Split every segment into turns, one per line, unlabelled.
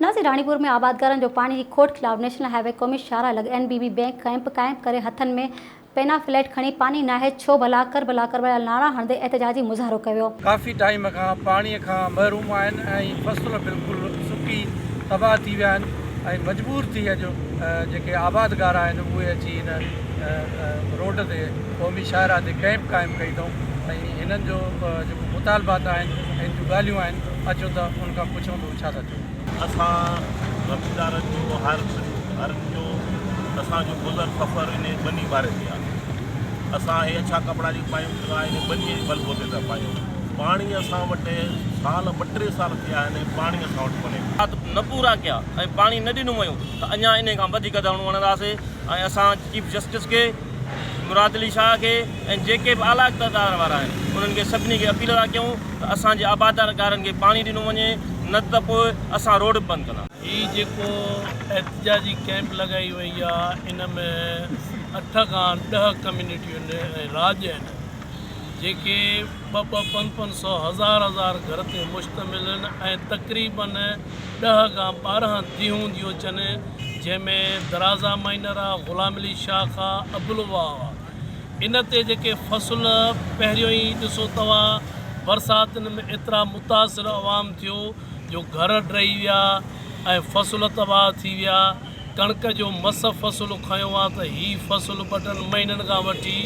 ناسي راڻيپور ۾ آبادگارن جو پاڻي جي کوٽ خلاف نيشنل هاء وي قومي شاهراهه لڳ N B B bank camp قائم ڪري هٿن ۾ پينا فليٽ کڻي پاڻي ناهي ڇو ڀلا ڪربلا ڪربلا نعرا هڻندي احتجاجي مظاهرو ڪيويو. ڪافي ٽائيم کان
پاڻي کان محروم آهن ۽ فصل بلڪل سڪي تباهه ٿي ويا آهن ۽ مجبور ٿي اڄ جيڪي آبادگار آهن اهي اچي هن روڊ تي قومي شاهراهه تي ڪئمپ قائم ڪئي اٿئون ۽ هنن جو جيڪو مطالبات آهن هن جون ڳالهيون آهن اچو ته ان کان پڇون ٿو. ڇا ٿا چئو؟ اسان
زميندارن جو هر هرن جو اسان جو گذر سفر انهي ٻني واري تي آهي. اسان اهي اڇا ڪپڙا جيڪي پايون سا انهي ٻني جي بل بوتي تان پايون. پاڻي اسان وٽ سال ٻه ٽي سال ٿيا آهن ۽ پاڻي اسان وٽ ڪونهي. شرط نه پورا ڪيا
۽ پاڻي نه ڏنو ويو ته اڃا انهي کان وڌيڪ ڌرڻو هڻنداسين ۽ اسان چيف جسٽس کي. مراد علي شاهه کي ۽ جيڪي به اعليٰ اقتدار وارا آهن انهن کي سڀني کي اپيل ٿا ڪيون ته اسان جي آبادگارن کي پاڻي ڏنو وڃي نه ته پوء اسان روڊ به بند ڪندا. هي جيڪو
احتجاجي ڪئمپ لڳائي وئي آ ان ۾ اٺ کان ڏهه ڪميونٽيون ۽ راڄ آهن جيڪي ٻه ٻه پنج پنج سئو هزار هزار گهر تي مشتمل آهن ۽ تقريبن ڏهه کان ٻارهن ديهون ديون چن، جنهن ۾ درازا مائنر آ، غلام علي شاخ آ، ابلوا آ. ان تي جيڪي فصل پهريون ئي ڏسو توا برساتن ۾ ايترا متاثر عوام ٿيو جو گهر ڊهي ويا ۽ فصل تباهه ٿي ويا. ڪڻڪ جو مس فصل کنيو آ ته هي فصل ٻٽن مهينن کان وٺي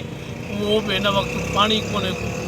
اهو به هن وقت پاڻي ڪونهي ڪو.